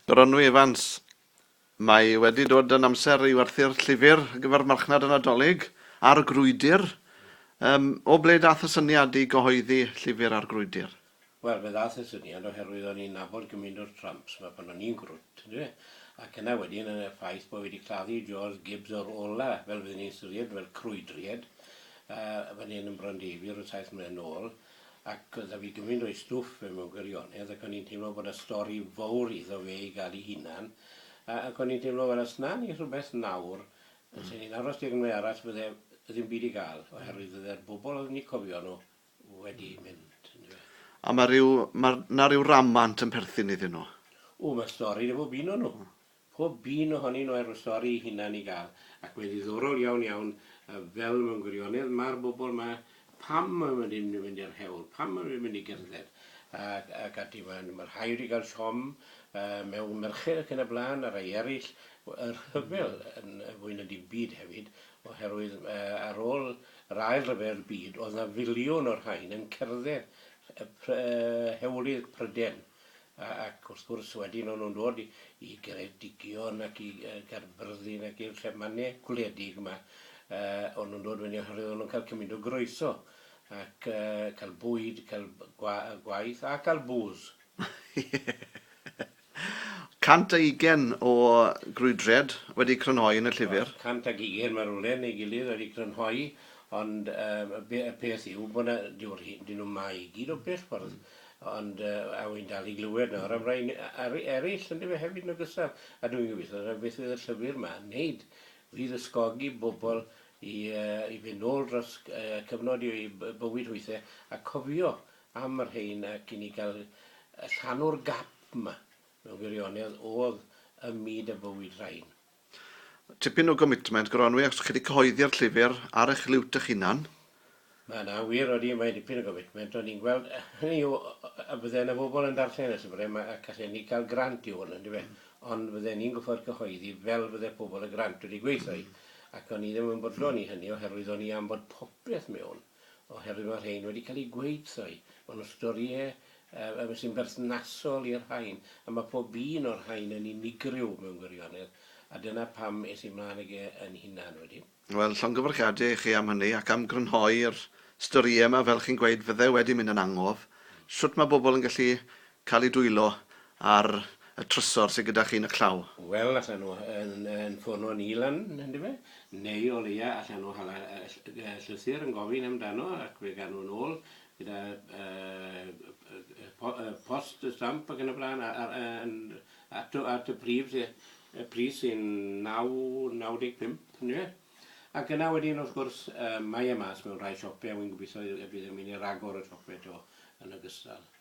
Gronwy Evans, Mae wedi dod yn amser i werthu'r llyfr ar gyfer marchnad y Nadolig, Ar y Grwydr. Yym, o ble daeth y syniad i gyhoeddi llyfr Ar Grwydr? Wel, fe ddaeth y syniad oherwydd o'n i'n nabod gymint o'r Trumps 'ma pan o'n i'n gwrwt, yndyfe? Ac yna wedyn yn y ffaith bo' fi 'di claddu Jaws Gibbs o'r ola, fel fydden ni'n ystyried, fel crwydried, yy, fan hyn yn Bron Davey ryw saith mlynedd nôl, Ac oedd 'da fi gymaint o'i stwff fe mewn gwirionedd ac o'n i'n teimlo bod 'na stori fowr iddo fe i gael ei hunan a ac o'n i'n teimlo fel os 'na ni rhywbeth nawr yn lle ni'n aros digon mwy arall fydde ddim byd i gael oherwydd fydde'r bobl oedden ni'n cofio nhw wedi mynd yndyfe. A ma' ryw ma' 'na ryw ramant yn perthyn iddyn nhw. O ma' stori 'da bob un o nhw. Pob un ohonyn nhw ar y stori ei hunan i gael. Ac mae'n ddiddorol iawn iawn fel mewn gwirionedd mae'r bobl ma, pam mae nhw ddim yn mynd i'r hewl, pam mae nhw ddim yn mynd i gerdded ac ac ati. Mae mae rhai wedi cael siom yy mewn merched ac yn y blaen a rhai eraill y rhyfel yn fwy na dim byd hefyd oherwydd yy ar ôl yr ail ryfel byd oedd na filiwn o'r rhain yn cerdded y pr- yy hewlydd Pryden A, ac wrth gwrs, wedyn o'n nhw'n dod i, i Geredigion ac i yy Gaerfyrddin ac i'r llef mane gwledig 'ma, yy, o'n nhw'n dod fyny oherwydd o'n nhw'n cael cymint o groeso, ac yy cael bwyd, cael b- gwa- yy gwaith, a cael bŵs. Ie. 120 o grwydriad wedi crynhoi yn y llyfr. O, 120 ma' rywle neu gilydd wedi crynhoi, ond yy y be- y peth yw bod 'na, dyw'r rhei, 'dyn nhw'm 'ma i gyd o bell ffordd. Ond a wi'n dal i glywed nawr am rai eraill yndyfe hefyd yn ogystal, a dwi'n gobeithio na beth fydd y llyfr 'ma'n wneud, fydd ysgogi bobl i i fynd nôl dros cyfnod i bywyd hwythau a cofio am y rhein ac i ni gael llanw'r gap 'ma mewn gwirionedd o'dd ym myd a bywyd rhain. Tipyn o gomitment, Gronwy, os chi 'di cyhoeddi'r llyfr ar eich liwt eich hunan. Na, na, wir, odi, mae dipyn o gomitment, ond ni'n gweld, hynny yw, a bydde yna bobl yn darllen y llyfr, a gallen ni gael grant i hwn, yndyfe, ond fydden ni'n gorfod cyhoeddi fel fydde pobl y grant wedi gweithio hi, ac o'n i ddim yn bodlon i hynny oherwydd o'n i am bod popeth mewn. oherwydd mae'r rhain wedi cael eu gweud-thoi, maen nhw'n storïau yy yy sy'n berthnasol i'r rhain, a mae pob un o'r rhain yn unigryw mewn gwirionedd, a dyna pam es i mlaen ag e yn hunan wedyn. Wel, llongyfarchiadau i chi am hynny, ac am grynhoi'r storïau yma, fel chi'n gweud, fydde wedi mynd yn angof, shwt mae bobl yn gallu Cael ei dwylo ar y trysor sydd gyda chi yn y claw. Wel, allan nhw yn ffono ni lan, yndyfe? Neu o leia allan nhw hala llythyr yn gofyn amdano ac fe gawn nhw yn ôl gyda post stamp ac yn y blaen at y prif pris sy'n 9.95, yndyfe? Ac yna wedyn, wrth gwrs, mae e mas mewn rhai siope a wi'n gobeithio y bydd e'n mynd i ragor o siope eto yn ogystal.